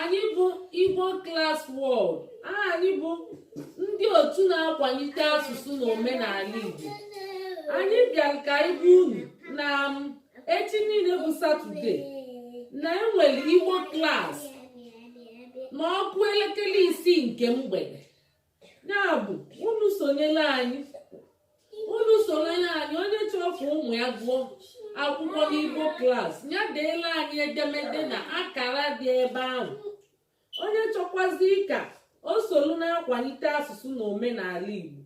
anyị bụ Igbo Class World anyị bụ ndị otu na-akwalite asụsụ na omenala Igbo anyị bịara ka anyị gwa unu na um, echi niile bụ Satọde na e nwere Igbo Class ma ọ kụọ elekere isii nke mgbede ya bụ unu sonyela anyị unu sonyela anyị onye chọrọ ka ụmụ ya gụọ akwụkwọ n'Igbo Class ya deela anyị edemede na akara dị ebe ahụ onye chọkwazi ka o solu na-akwalite asụsụ na omenala igbo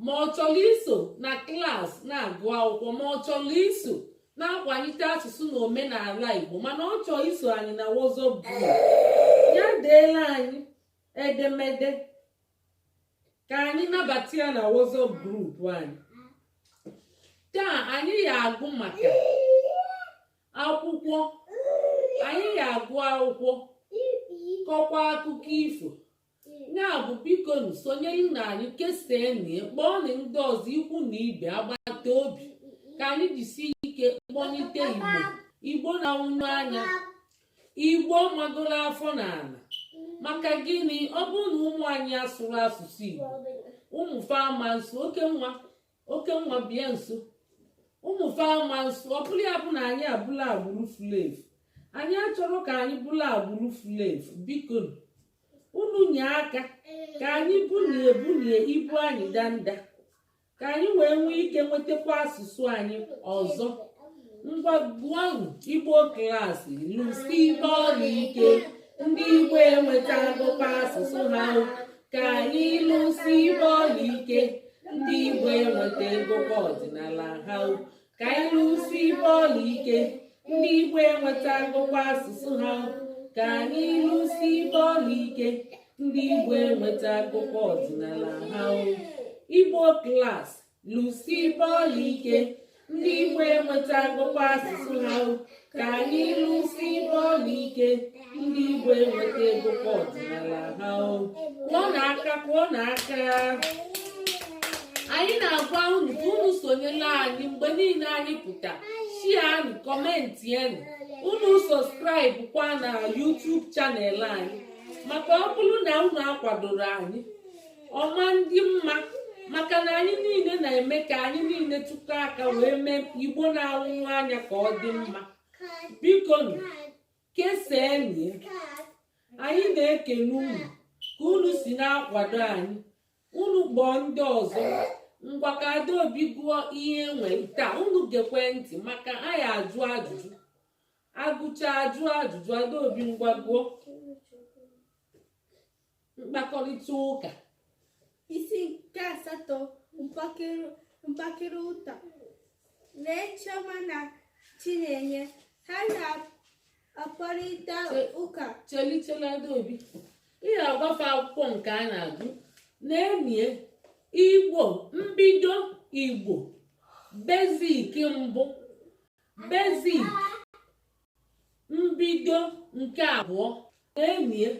ma ọ chọrọ iso na klas na-agụ akwụkwọ ma ọ chọrọ iso na-akwalite asụsụ na omenala igbo mana ọ chọọ iso anyị na WhatsApp group ya deela anyị edemede ka anyị nabata ya na WhatsApp group anyị taa anyị ya agụ maka akwụkwọ anyị ya agụ akwụkwọ kọkwa akụkọ ifo ya bụ biko sonyerenụ anyị kesaanụ kpọọnụ ndị ọzọ ikwu na ibe agbata obi ka anyị jisie ike kpọlite igbo igbo na-anwụnyụ anya igbo amagoro afọ n'ala maka gịnị ọ bụrụ na ụmụ anyị asụrọ asụsụ igbo ụmụ fa ama nsụ oke nwa oke nwa bịa nso ụmụ fa ama nsụ ọ bụrụ ya bụ na anyị abụlụ agbụrụ fulu efu anyị achọrọ ka anyị bụlụ agbụrụ fulu efu biko unu nye aka ka anyị bulie bulie ibu anyị danda ka anyị wee nwee ike nwetakwa asụsụ anyị ọzọ ngwa gụọ igbo Class lụsibe ọlụ ike ndị igbo enwetagokwa asụsụ ha ka anyị lụsibe ọlụ ike ndị igbo enwetagokwa ọdịnala ha ka anyị lụsibe ọlụ ike ndị Igbo enwetagokwa asụsụ ha ka anyị lụsibe ọlụ ike ndị Igbo enwetagokwa ọdịnala ha Igbo Class lụsibe ọlụ ike ndị Igbo enwetagokwa asụsụ ha ka anyị lụsibe ọlụ ike ndị igbo enwetagokwa ọdịnala ha kụọnụ aka kụọnụ aka anyị na-agwa unu ka unu sonyela anyị mgbe niile anyị pụta shianụ kọmentịanụ unu sọskraịbụ kwa na YouTube chanel anyị maka ọ bụrụ na unu akwadoro anyị ọma ndị mma maka na anyị niile na-eme ka anyị niile tụkọ aka wee mee igbo na-anwụ anya ka ọ dị mma biko kesaanị anyị na-ekele unu ka unu si na-akwado anyị unu kpọọ ndị ọzọ ngwa ka adaobi gụọ ihe e nwere taa unu gekwe ntị maka a ya-ajụ ajụjụ a gụcha ajụọ ajụjụ adaobi ngwa gụọ mkpakọrịta ụka isi nke asatọ mkpakịrị ụta lee chioma na chinenye ha na-akparịta ụka cheli cheli adaobi ihe agbafe akwụkwọ nke a na-agụ n'ime ya igbo mbido igbo basic mbụ basic mbido nke abụọ n'ime ya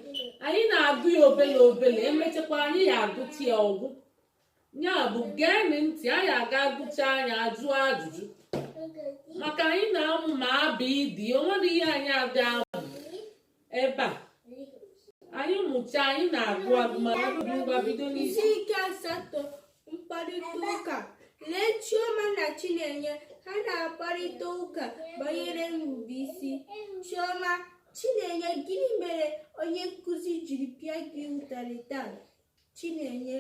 anyị na-agụ ya obele obele emechakwa anyị ya-agụcha ya ọ gwụ ya bụ geenị ntị anyị aga agụcha anyị ajụọ ajụjụ maka anyị na-amụ ma abịịdịị o nweghị ihe anyị aga ebe a anyị mụcha anyị na-agụ agụmagụ ngwa bido n'isi isi nke asatọ mkparịta ụka lee chioma na chinenye ha na-akparịta ụka banyere nrubeisi chioma chinenye gịnị mere onye nkụzi jiri pịa gị ụtarị taa chinenye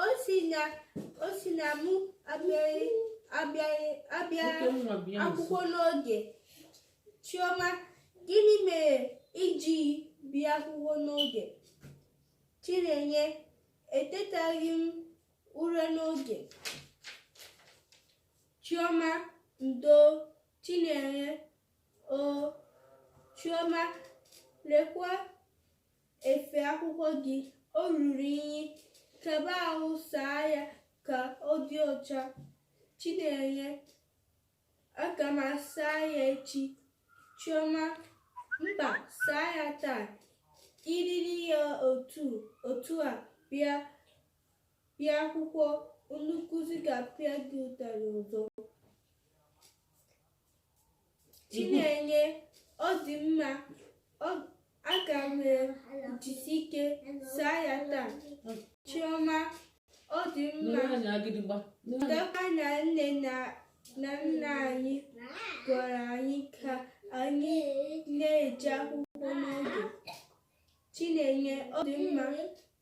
o si na mụ abịaghị akwụkwọ n'oge Chioma, gịnị mere i jighị bịa akwụkwọ n'oge? Chinenye, etetaghị m ụra n'oge. Chioma, ndo, Chinenye, o, Chioma, lekwa efe akwụkwọ gị, o ruru inyi, kaba ahụ saa ya ka ọ dị ọcha. Chinenye, Aga m asa ya echi. Chioma, mba, saa ya taa. I yiri ya otu a bịa akwụkwọ, onye nkụzi ga-apịa gị ụtarị ọzọ. Chinenye, ọ dị mma, ọ Aga m ejisi ike saa ya taa. Chioma, ọ dị mma. Matakwa na nne na nna anyị gwara anyị ka anyị na-eje akwụkwọ n'oge. Chinenye, ọ dị mma.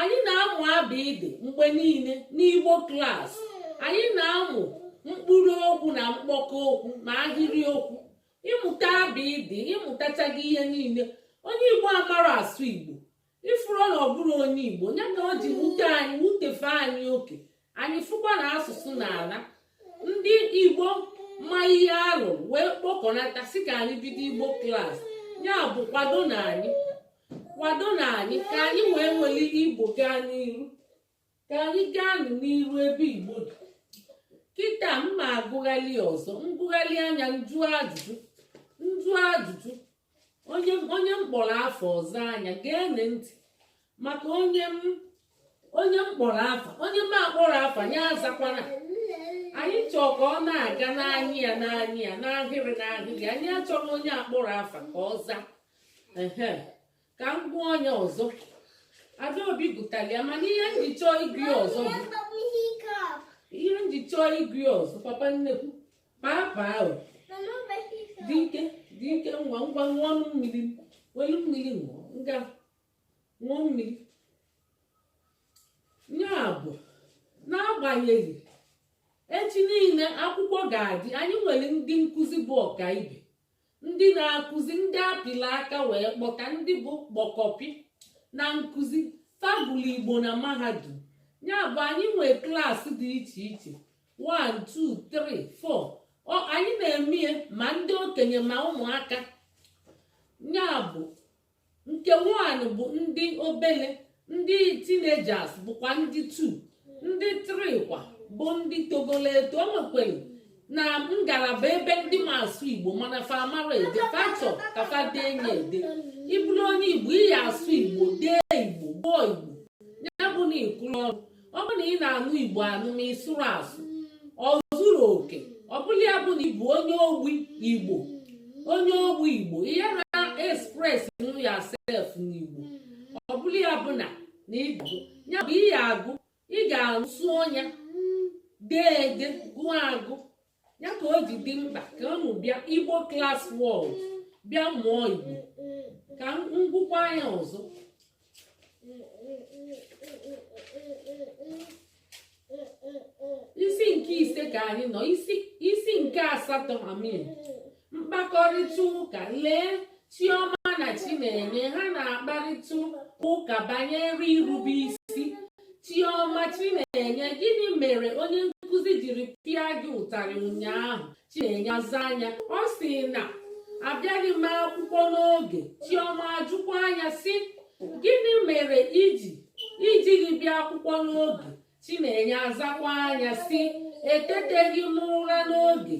anyị na-amụ abịdị mgbe niile n'igbo klas anyị na-amụ mkpụrụ okwu na mkpọkọ okwu ma ahịrị okwu ịmụta abịdị ịmụtachaghị ihe niile onye igbo amarọ asụ igbo ị fụrụ na ọ bụrọ onye igbo ya ka o ji wute anyị wutefe anyị oke anyị fụkwa na asụsụ na-ala ndị igbo ma ihe alụ wee kpọkọnata sị ka anyị bido igbo klas ya bụ kwadonụ anyị kwadonụ anyị ka anyị wee nwere igbo gaa n'iru ka anyị gaa n'iru ebe igbo dị kịta m ma agụgharị ọzọ m gụgharịa nya m jụọ ajụjụ m jụọ ajụjụ onye onye m kpọrọ afa ọ zaa nya gee ntị maka onye m onye m kpọrọ afa onye m akpọrọ afa ya azakwana anyị chọọ ka ọ na-aga n'anya ya n'anya ya n'ahịrị n'ahịrị anyị achọrọ onye akpọrọ afa ka ọ zaa ehe ka m kpọọ onye ọzọ adaobi gụtara ya mana ihe m ji chọọ ịgụ ya ọzọ bụ ihe m ji chọọ ịgụ ya ọzọ papa nnekwu papa ahụ dị ike dị ike ngwa ngwa ṅụọ ọnụ mmiri welu mmiri ṅụọ ngwa ṅụọ mmiri ya bụ n'agbanyeghị echi niile akwụkwọ ga-adị anyị nwere ndị nkụzi bụ ọkaibe ndị na-akụzi ndị apịla aka wee kpọta ndị bụ kpọkọpị na nkụzi fa gụlụ igbo na mahadum ya bụ anyị nwee klaasị dị iche iche 1 2 3 4 anyị na-eme ma ndị okenye ma ụmụaka ya bụ nke one bụ ndị obele ndị teenagers bụkwa ndị two ndị three kwa bụ ndị togolo eto o nwekwere na ngalaba ebe ndị ma asụ igbo mana fa amarọ ede fa chọ ka fa dee nya ede ị bụrụ onye igbo ị ya-asụ igbo dee igbo gụọ igbo ya bụ na ịkụrụ ọrụ ọ bụrụ na ị na-anụ igbo anụ ma ị sụrọ asụ o zurọ oke ọ bụrụ ya bụ na ị bụ onye ogbi igbo onye ogbi igbo ihe na express nụ yourself n'igbo ọ bụrụ ya bụ na na ịgụ ya bụ ihe agụ ị ga-asụ nya dee ede gụọ agụ ya ka o ji dị mkpa ka unu bịa igbo klas world bịa mụọ igbo ka m gụkwaa ya ọzọ isi nke ise ka anyị nọ isi nke asatọ I mean mkpakọrịta ụka lee chioma na chinenye ha na-akparịta ụka banyere irube isi Chioma Chinenye gịnị mere onye nkụzi jiri pịa gị ụtarị ụnyaahụ Chinenye azaa nya ọ sị na abịaghị m akwụkwọ n'oge Chioma ajụkwaa nya sị gịnị mere iji ijighị bịa akwụkwọ n'oge Chinenye azakwaa nya sị eteteghị m ụra n'oge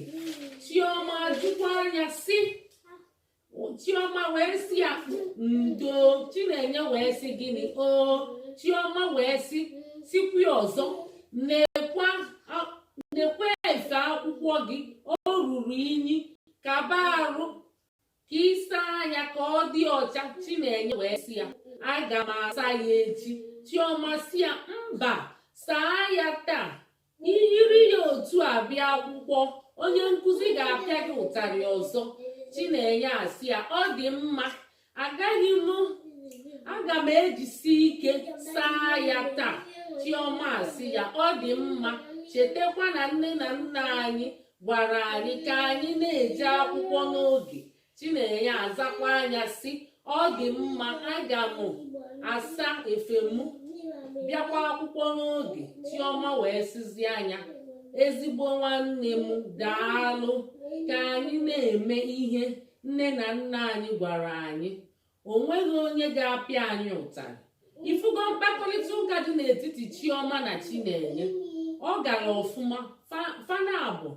Chioma ajụkwaa nya sị chioma wee sị ya ndo chinenye wee sị gịnị o chioma wee sị sịkwa ọzọ nekwa efe akwụkwọ gị o ruru inyi kaba arụ ka ị saa nya ka ọ dị ọcha chinenye wee sị ya aga m asa ya echi chioma sị ya mba saa ya taa i yiri ya otu a bịa akwụkwọ onye nkụzi ga-apịa gị ụtarị ọzọ chinenye asị ya ọ dị mma agaghị m aga m ejisi ike saa ya taa chioma asị ya ọ dị mma chetakwa na nne na nna anyị gwara anyị ka anyị na-eje akwụkwọ n'oge chinenye azakwaa nya sị ọ dị mma aga m asa efe m bịakwa akwụkwọ n'oge chioma wee sịzịa nya ezigbo nwanne m daalụ ka anyị na-eme ihe nne na nna anyị gwara anyị o nweghị onye ga-apịa anyị ụtarị ifugo mkpakọrịta ụka dị n'etiti chioma na chinenye ọ gara ọfụma fa naabọ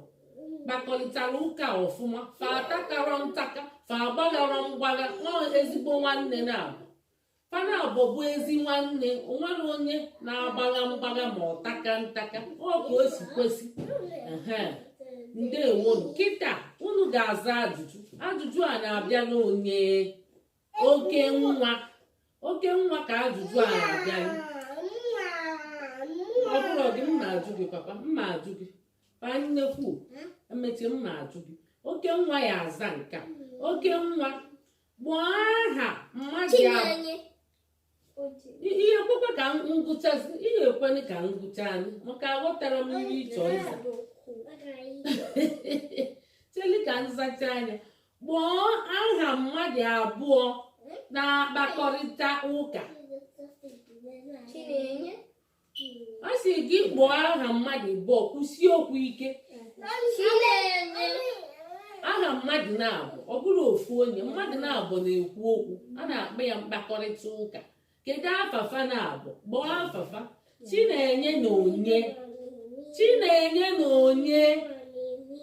kpakọrịtara ụka ọfụma fa atakarọ ntaka fa agbagharọ mgbagha na ezigbo nwanne naabọ fa naabọ bụ ezi nwanne o nwerọ onye na-agbagha mgbagha ma ọ taka ntaka ọ ka o si kwesị ndeewonu kịta unu ga-aza ajụjụ ajụjụ a na-abịalụ onye okenwa okenwa ka ajụjụ a na-abịa ọ bụrụ gị m na-ajụ gị papa m na-ajụ gị pa nnekwu emechi m na-ajụ gị okenwa ya-aza nka okenwa kpọọ aha mmadụ ya ị ya-ekwekwa ka m gụchaa ị ya-ekwenụ ka m gụchaa nya maka aghọtara m ihe ị chọ ịza chelụ ka m zachaa nya kpọọ aha mmadụ abụọ na-akpakọrịta ụka ọ sị gị kpọọ aha mmadụ abụọ kwụsie okwu ike aha mmadụ naabọ ọ bụrọ ofu onye mmadụ naabọ na-ekwu okwu a na-akpọ ya mkpakọrịta ụka kedu afa fa naabọ kpọọ afa fa chinenye na onye chinenye na onye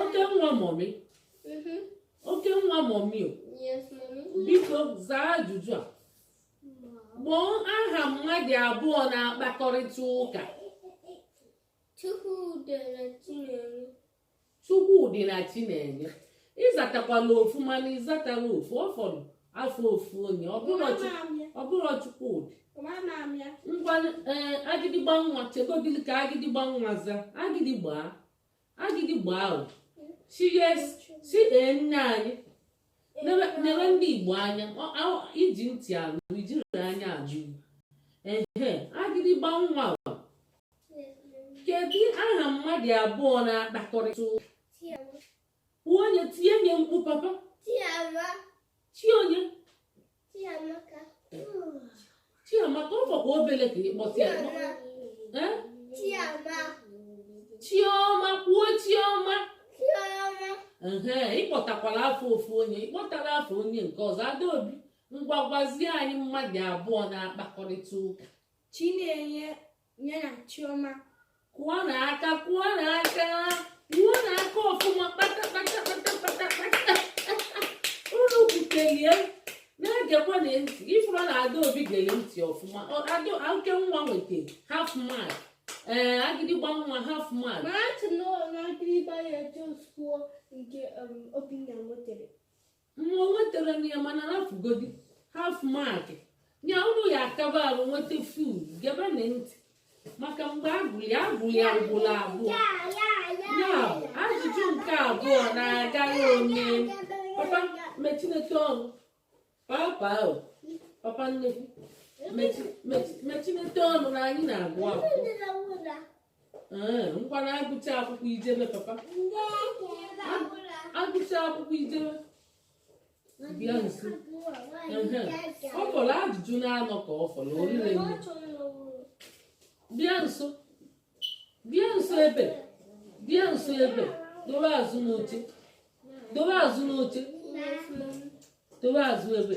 oke nwa mọmi mm-hmm. oke nwa mọmi o biko zaa ajụjụ a kpọọ aha mmadụ abụọ na-akpakọrịta ụka Chukwudi na Chinenye ịzatakwala ofu mana ịzatarọ ofu ọ fọrọ afa ofu onye ọ bụrọ Chukwudi ngwa eh, agịdịgba nwa chegodili ka agịdịgba nwa za agịdịgba agịdịgba o si yes si ee nne anyị Nebe- nebe ndị igbo anya ọ- ọ- iji ntị anụ ijiri anya ajụ ehe agịdịgba nwa o kedu aha mmadụ abụọ na-akpakọrịta ụka? kwuo onye tie nye mkpu papa Chionye Chiamaka ọ fọkwa obele ka ị kpọta ya Chioma kwuo Chioma ịkpọtakwala afa ofu onye ịkpọtarọ afa onye nke ọzọ Adaobi ngwa gwazie anyị mmadụ abụọ na-akpakọrịta ụka Chinenye nye na Chioma kụọnụ aka kụọnụ aka kụọnụ aka ọfụma kpata kpata kpata kpata kpata unu kwutelie na-egekwa na ntị ifụrụ na adaobi gere ntị ọfụma oke nwa nweta half mark ee eh, agịdịgba nwa half mark na-achị na agịdịgba ya josụọ nke um, obinna nwetere nwa nwetara na ya mana hafugodi half mark ya unu ya akaba arụ nweta full gebe na ntị maka mgbe agụli agụli ugbolo abụọ ya bụ ajụjụ nke abụọ na-agaghị onye papa mechinete ọnụ papa o papa nnekwu mechinete ọnụ na anyị na-agụ akwụkwọ Ee, ngwa na agụcha akwụkwọ ijebe papa agụcha akwụkwọ ijebe bịa nso Ehe. ọ fọrọ ajụjụ na-anọ ka ọ fọrọ orire nne bịa nso bịa nso ebe bịa nso ebe dobe azụ n'oche dobe azụ n'oche dobe azụ ebe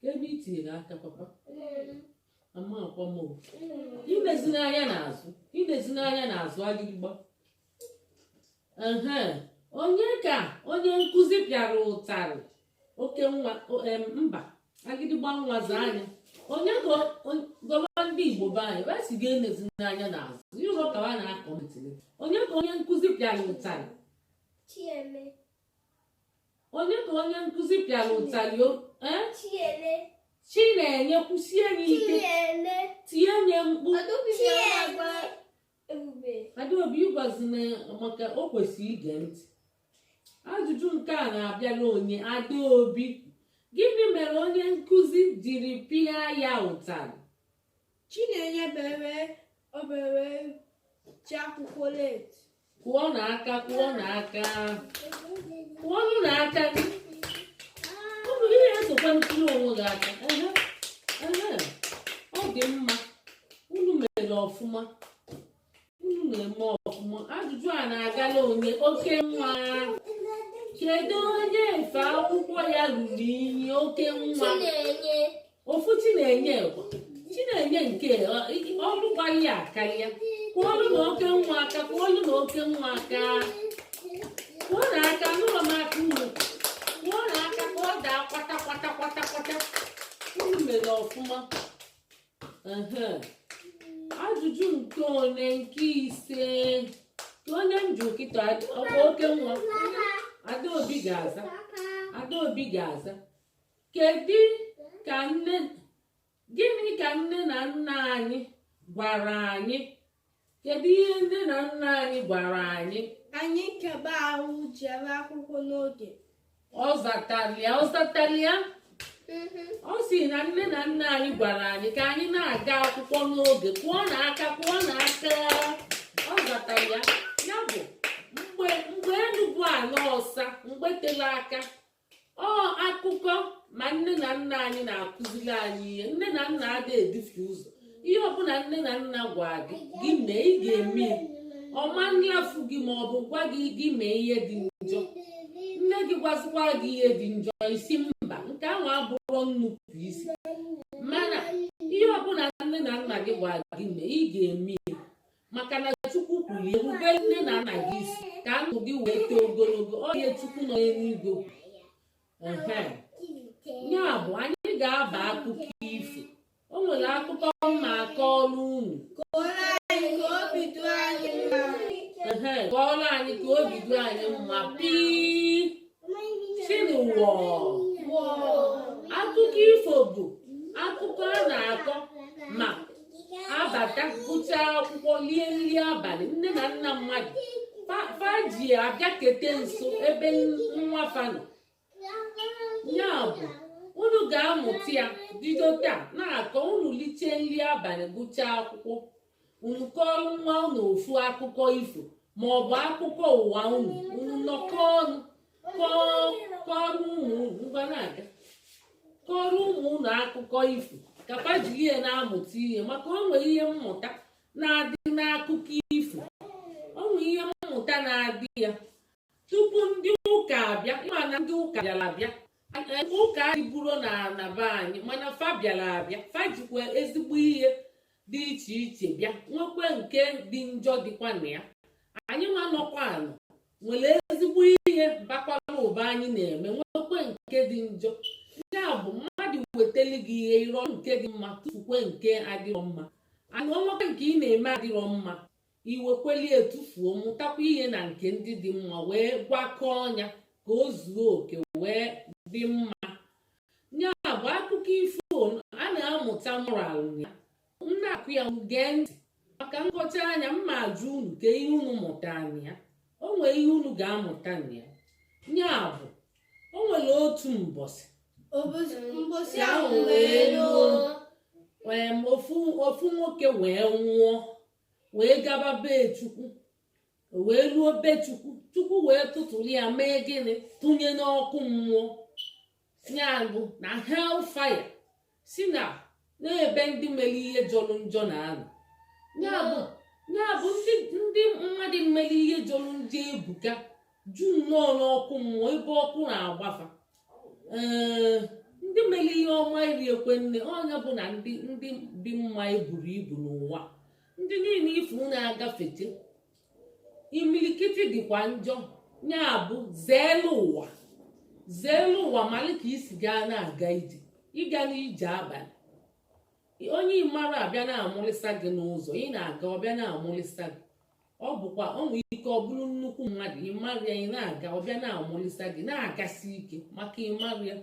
ka ebe i tinyere aka papa ama akwa m o. inezina anya n'azụ inezina anya n'azụ agịgba ehe onye ka onye nkụzi pịara ụtarị oke nwa o- em, mba agịdịgba nwa zaa nya onye ka o- o- gọwa ndị igbo be anyị wee sị gị enezina anya n'azụ ịhụlụ ka ha na-akọ ntịlị onye ka onye nkụzi pịara ụtarị Chieme. onye ka onye nkụzi pịara ụtalị o ee Chinenye. Chinenye kwusie ya ike Chinenye. tienye mkpu Adaobi ji ọma agwa Ebube. adaobi agwazina maka o kwesịrị ige ntị ajụjụ nke a na-abịara onye adaobi gịnị mere onye nkụzi jiri pịa ya ụtarị Chinenye bere obere ji akwụkwọ late. Kụọnụ aka, kụọnụ aka. Kụọnụ aka. Ọ bụ ihe esokwa kụọrọ onwe gị aka. Ọ dị mma. Unu mere ọfụma. na-eme ọfụma ajụjụ a na-agala onye okenwa kedu onye efe akwụkwọ ya ruru inyi okenwa ofu chinenye chinenye nke ọrụ gbaghị ya akarịa kụọlụnụ okenwa aka kụọlụnụ okenwa aka kụọnụ aka nụrụ m aka unu kụọnụ aka ka ọ daa kwata kwata kwata kwata unu mere ọfụma ajụjụ nke one nke ise ka onye m jụ kịta ọkwa okenwa adaobi ga-aza adaobi ga-aza kedu ka nne gịnị ka nne na nna anyị gwara anyị kedu ihe nne na nna anyị gwara anyị anyị kebe ahụ jere akwụkwọ n'oge ọ zatalịa ọ zatalịa mm-hmm. ọ sị na nne na nna anyị gwara anyị ka anyị na-aga akwụkwọ n'oge kụọnụ aka kụọnụ aka ọ zatalịa ya bụ mgbe mgbe elu bụ ala ọsa mgbe tele aka ọ akụkọ ma nne na nna anyị na-akụziri anyị ihe nne na nna adịghị edufe ụzọ ihe ọbụla nne na nna gwa gị gị mee ị ga-eme ọ ma nlafu gị ma ọ bụ gwa gị gị mee ihe dị njọ nne gị gwazikwa gị ihe dị njọ ị sị mba nke ahụ abụrọ nnupụ isi mana ihe ọbụla nne na nna gị gwa gị mee ị ga-eme maka na chukwu kwuru rube nne na nna gị isi ka ndụ gị wee too ogologo ọ ihe chukwu nọ n'eluigwe ya bụ anyị ga-aba akụkọ ifo o nwere akụkọ m ga-akọrọ unu kọọrọ anyị ka obi dị anyị mma pii sịnụ wọọ akụkọ ifo bụ akụkọ a na-akọ ma abata gụchaa akwụkwọ lie nri abalị nne na nna mmadụ fa ji abịakete nso ebe nwa fa nọ ya bụ unu ga-amụta ya bido taa na-akọ unu lichaa nri abalị gụchaa akwụkwọ unu kọọrọ nwa unu ofu akụkọ ifo ma ọ bụ akụkọ ụwa unu unu nọkọọ ọnụ kọọrọ ụmụ unu ngwa na-aga kọọrọ ụmụ unu akụkọ ifo ka fa jiri ya na-amụta ihe maka o nwere ihe mmụta na-adị n'akụkọ ifo o nwere ihe mmụta na-adị ya tupu ndị ụka abịa ị ma na ndị ụka bịara abịa ụka adịburo na be anyị mana fa bịara abịa fa jikwa ezigbo ihe dị iche iche bịa nwekwa nke dị njọ dịkwa na ya anyị nwa nọkwa anọ nwere ezigbo ihe bakwara ụba anyị na-eme nwekwa nke dị njọ ya bụ mmadụ wetali gị ihe ị rọọ nke dị mma tufukwe nke adịrọ mma mana o nwekwe nke ị na-eme adịrọ mma i wekweli ya tufuo mụtakwa ihe na nke ndị dị mma wee gwakọọ nya ka o zuo oke wee dị mma ya bụ akụkọ ifo a na-amụta moral ya m na-akọ ya gee ntị maka m kọchaa nya m ma ajụ unu ka ihe unu mụta na ya o nwere ihe unu ga-amụta na ya ya bụ o nwere otu mbọsị mbọsị ahụ wee luo ofu nwoke wee nwụọ wee gaba be chukwu o wee luo be chukwu chukwu wee tụtụrụ ya mee gịnị tụnye n'ọkụ mmụọ ya bụ na hell fire si na n'ebe ndị mere ihe jọrọ njọ na-anọ ya bụ ya bụ ndị ndị mmadụ mere ihe jọrọ njọ ebuka ju nnọọ n'ọkụ mmụọ ebe ọkụ na-agba fa ee ndị mere ihe ọma erirokwe nne ọ nya bụ na ndị ndị dị mma eburo ibu n'ụwa ndị niile ị fụ na-agafete imilikiti dịkwa njọ ya bụ zeelu ụwa zeelu ụwa mali ka i si ga na-aga ije ị gana ije abalị onye ị marọ bịa na-amụlịsa gị n'ụzọ ị na-aga ọ bịa na-amụlịsa gị ọ bụkwa o nwere ike ọ bụrụ nnukwu mmadụ ị marọ ya ị na-aga ọ bịa na-amụlịsa gị na-agasi ike maka ị marọ ya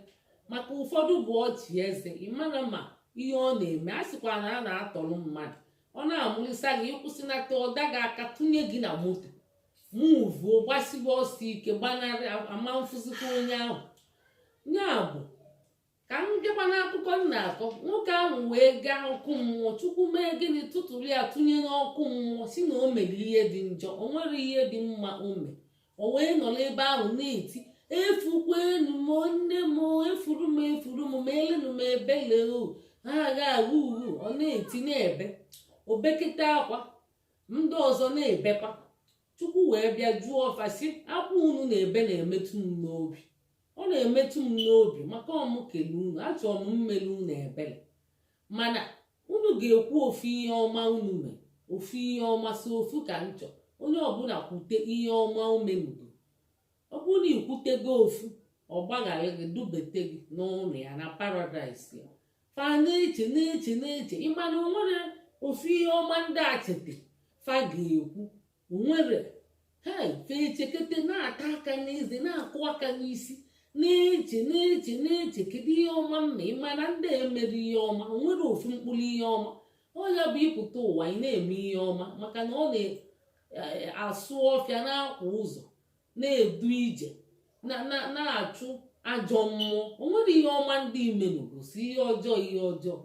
maka ụfọdụ bụ ọchị eze ị ma na-ama ihe ọ na-eme a sịkwa na a na-atọrọ mmadụ ọ na-amụlịsa gị ị kwụsịnata ọ da gị aka tụnye gị na moto muvuo gbasiwe ọsọ ike gbanarị a ma afụzikwa onye ahụ ya bụ ka m bịakwa n'akụkọ m na-akọ nwoke ahụ wee gaa ọkụ mmụọ chukwu mee gịnị tụtụrụ ya tụnye n'ọkụ mmụọ si na o mere ihe dị njọ o nwerọ ihe dị mma o mee o wee nọ n'ebe ahụ na-eti efukwenu m nne m efuru m efuru m meelenu m ebele o ha agha agha uhu ọ na-eti na-ebe o bekete akwa ndị ọzọ na-ebekwa chukwu wee bịa jụọ fa sị akwa unu na-ebe na-emetụ m n'obi ọ na-emetụ m n'obi maka ọ mụ kele unu achọrọ m mmele unu ebele mana unu ga-ekwu ofu ihe ọma unu mee ofu ihe ọma sọ ofu ka m chọ onye ọbụla kwute ihe ọma o menugo ọ bụrụ na ikwutego ofu ọ gbaghara gị dubete gị n'ụlọ ya na paradaịs ya fa na-eche na-eche na-eche ịmana o nwerọ ofu ihe ọma ndị a cheta fa ga-ekwu nwerọ hei fa echekete na-ata aka n'eze na-akụ aka n'isi na-eche na-eche na-eche kedu ihe ọma mma ịmana ndị a emerọ ihe ọma o nwerọ ofu mkpụrụ ihe ọma ọ ya bụ ịpụta ụwa ị na-eme ihe ọma maka na ọ na-asụ ọfịa na-akwa ụzọ na-edu ije na-achụ ajọ mmụọ o nwerọ ihe ọma ndị a menugo sọ ihe ọjọọ ihe ọjọọ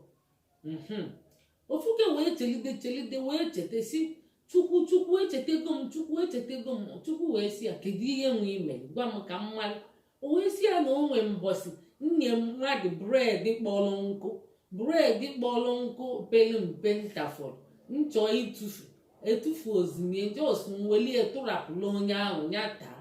mhm. ofuke wee chelide chelide wee cheta si chukwu chukwu echetego m chukwu echetego m chukwu wee si ya kedu ihe nwa i me gwa m ka m mara o wee si ya na o nwee mbọsị m nye mmadụ bred kpọrọ nkụ bred kpọrọ nkụ pere mpe m tafọrọ m chọ itufu etufu ozimie jos m welie tụrapụrụ onye ahụ ya taa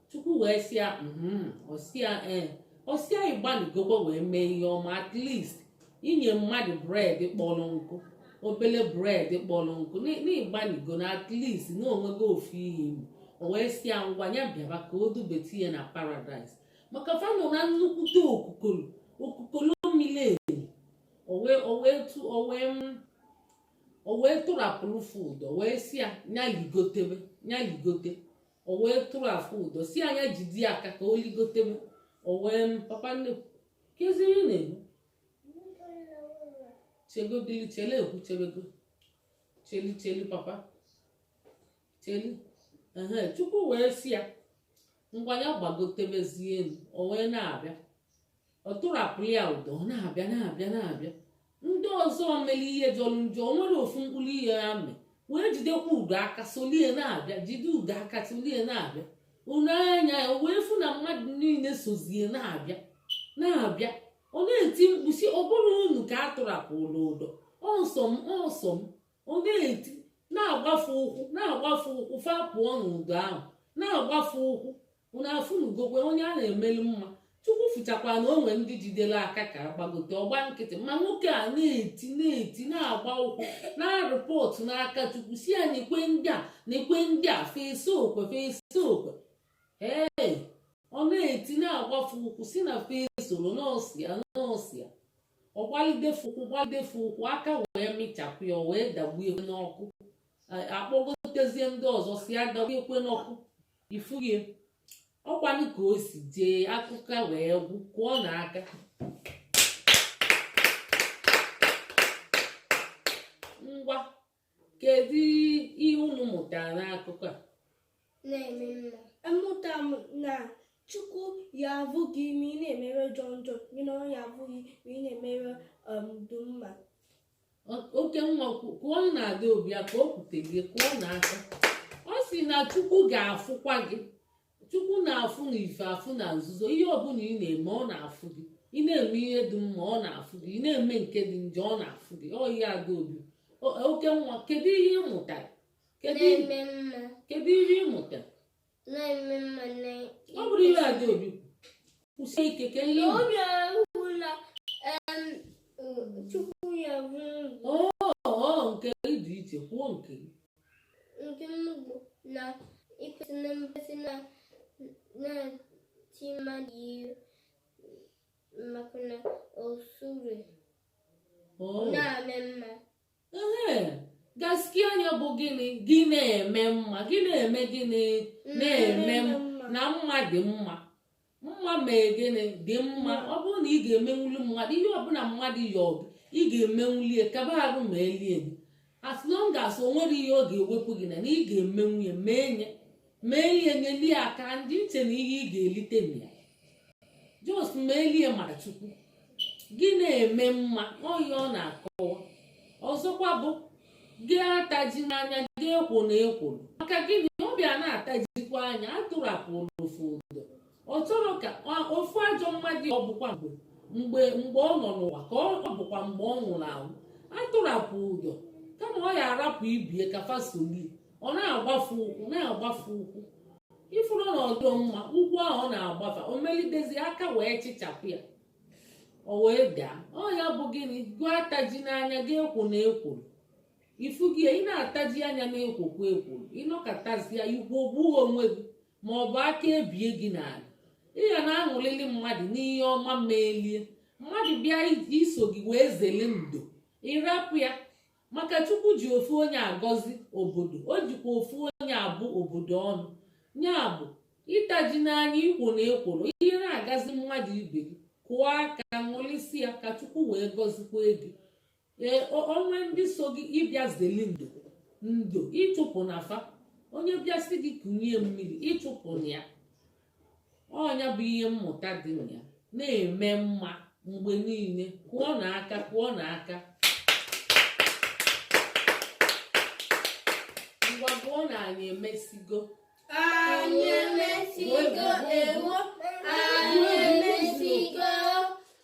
chukwu wee sị ya "Mhm." Ọ sị ya ee ọ sị ya ịgbalịgokwa wee mee ihe ọma at least inye mmadụ bred kpọrọ nkụ obele bred kpọrọ nkụ na- na ịgbalịgo na at least na o nwego ofu ihe i me o wee sị ya ngwa ya bịaba ka o dubete ya na paradaịs maka fa nọ na nnukwute okukoro okukoro miri emi o wee o wee tụ o wee m o wee tụrapụrụ fa ụdọ wee sị ya ya ligotebe ya ligote o wee tụrapụ ụdọ si ya nya jide ya aka ka o ligotebe o wee m papa nne kezi ihe na-eme chegodili chele ekwu chebego cheli cheli papa cheli ehe chukwu wee si ya ngwa ya gbagotebezie elu o wee na-abịa ọ tụrapụrụ ya ụdọ ọ na-abịa na-abịa na-abịa ndị ọzọ mere ihe jọrọ njọ o nwerọ ofu mkpụrụ ihe fa mee wee jidekwa ụdọ aka solie na-abịa jide ụdọ aka solie na-abịa o nee anya ya wee fụ na mmadụ niile sozie na-abịa na-abịa ọ na-eti mkpu sị ọ bụrọ unu ka a tụrapụrụ ụdọ ọ sọ m ọ sọ m ọ na-eti na-agba fa ụkwụ na-agba fa ụkwụ fa pụọ n'ụdọ ahụ na-agba fa ụkwụ unu afụnugokwa onye a na-emelu mma chukwu fụchakwa na o nwee ndị jidere aka ka a gbagote ọ gba nkịtị ma nwoke a na-eti na-eti na-agba ụkwụ na rịpọtụ n'aka chukwu si ya na ikwe ndị a na ikwe ndị a fa esokwe fa esokwe ee ọ na-eti na-agba fa ụkwụ si na fa esorọ na ọ sọ ya na ọ sọ ya ọ gbalide fa ụkwụ gbalide fa ụkwụ aka wee mịchapụ ya o wee dakpue n'ọkụ a kpọgotezie ndị ọzọ si ya dakpuekwe n'ọkụ ị fụghị ọkwanụ ka o si jee akụkọ wee gwụ kụọnụ aka ngwa kedu ihe unu mụtara n'akụkọ a amụta m na chukwu ya afụ gị ma ị na-eme ihe jọ njọ gị na ọ ya afụ gị ma ị na-eme ihe um, dị mma oke nwa kụọnụ adaobi aka o kwute gị kụọnụ aka ọ sị na chukwu ga-afụkwa gị chukwu na-afụ na ife afụ na nzuzo ihe ọbụla ị na-eme ọ na-afụ gị ị na-eme ihe dị mma ọ na-afụ gị ị na-eme nke dị njọ ọ na-afụ gị ọ ihe adaobi oke nwa kedu ihe ị mụtara kedu ihe ị mụtara na-eme mma na ọ bụrụ ihe adaobi kwusie ike ka ihe obi ahụla chukwu ya bụ ọ nke dị iche kwuo nke nke m bụ na i kwesị na mmasị na na-eti mmadụ ihe maka na osure na-eme mma gaskiya nya bụ gịnị gị na-eme mma gị na-eme gịnị mm, na-eme na mma dị mma mma mee gịnị dị mma ọ bụrụ na ị ga-emenwuli mmadụ ihe ọbụla mmadụ yọ gị ị ga-emenwuli ya kaba arụ melie ya as long as o nwerọ ihe ọ ga-ewepụ gị na na ị ga-emenwu ya mee nye mee ihe nyelie aka ndị iche na ihe ị ga-elite na ya just melie maka chukwu gị na-eme mma ọ ya ọ na-akọwa ọzọkwa bụ gị atajina anya gị ekwona ekworo maka gịnị ọ bịa na-atajikwa anya atụrapụrụ ofu ụdọ ọ chọrọ ka ofu ajọ mmadụ ọ bụkwa mgbe mgbe mgbe ọ nọ n'ụwa ka ọ bụkwa mgbe ọ nwụrụ anwụ atụrapụ ụdọ kama ọ ya arapụ ibe ya ka fa solie ọ na-agbafu ụkwụ na-agbafu ụkwụ ị fụrụ na ọ dọ mma ụkwụ ahụ ọ na-agbafu o melidezi aka wee chịchapụ ya o wee daa ọ ya bụ gịnị gị atajina anya gị ekwona ekworo ị fụghị ị na-ataji anya na-ekwokwu ekworo ị nọkatazia ị kwụgbuo onwe gị ma ọ bụ aka ebie gị n'ala ị ga na-aṅụlili mmadụ n'ihe ọma melie mmadụ bịa iso gị wee zele ndo ị rapụ ya maka chukwu ji ofu onye agọzi obodo o jikwa ofu onye abụ obodo ọnụ nya bụ ị tajina anya i kwona ekworo ihe na-agazi mmadụ ibe gị kụọ aka ṅụlisi ya ka chukwu wee gọzikwa gị ee o nwee ndị so gị ịbịa zeli ndo ndo ị chụpụna fa onye bịa sị gị kunye mmiri ị chụpụna ya ọ nya bụ ihe mmụta dị na ya na-eme mma mgbe niile kụọnụ aka kụọnụ aka ngwa gụọ na anyị emesigo anyị emesigo ewo anyị emesigo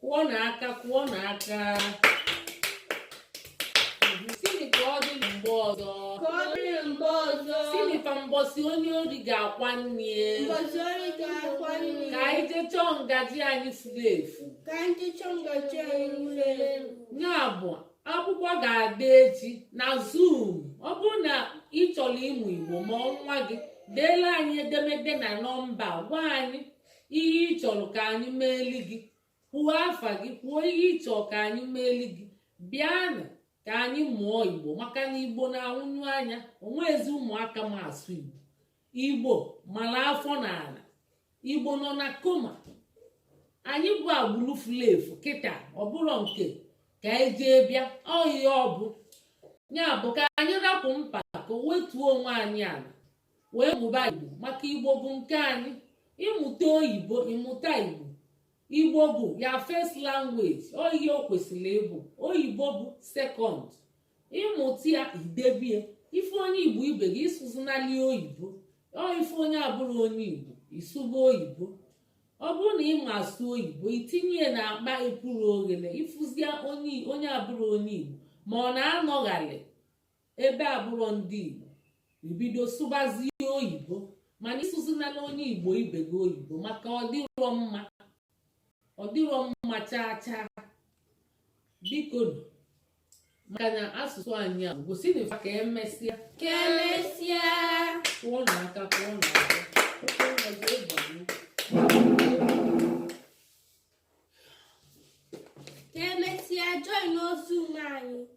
kụọnụ aka kụọnụ aka sịnị ka ọ dị mgbe ọzọ ka ọ dịrị mgbe ọzọ sịnị ka mbọsị onye ori ga-akwa nne mbọsị ori ga-akwa nne ka anyị jee chọọ ngaji anyị furu efu ka anyị jee chọọ ngaji anyị furu efu ya bụ akwụkwọ ga-adị echi na zoom ọ bụrụ na ị chọrọ ịmụ igbo ma nwa gị deeli anyị edemede na nọmba gwa anyị ihe ị chọrọ ka anyị meeli gị kwuo afa gị kwuo ihe ị chọrọ ka anyị meeli gị bịanụ ka anyị mụọ igbo maka na igbo na-anwụnyụ anya o nwezi ụmụaka ma asụ igbo igbo mara afọ na ala igbo nọ na koma anyị bụ agbụrụ fulu efu kịta ọ bụrọ nke ka anyị e jee bịa ọ ihe ọ bụ ya bụ ka anyị rapụ mpako wetuo onwe anyị ala wee mụba igbo maka igbo bụ nke anyị ị mụta oyibo ị mụta igbo igbo bụ ya first language ọ ihe o kwesịrị ịbụ oyibo bụ second ị mụta ya i debie ị fụ onye igbo ibe gị ị sụzinali oyibo ọ ị fụ onye abụrọ onye igbo ị sụba oyibo ọ bụrụ na ị ma asụ oyibo i tinye ya n'akpa epuru oghere ị fụzia onye abụrọ onye igbo ma ọ na-anọgharị ebe abụrọ ndị Igbo i bido sụbazie oyibo mana ị sụzinala onye Igbo ibe gị oyibo maka ọ dịrọ mma ọ dịrọ mma chaa chaa biko maka na asụsụ anyị agwụsịna ka emesịa ka emesịa kụọnụ aka kụọnụ aka ka emesịa join zoom anyị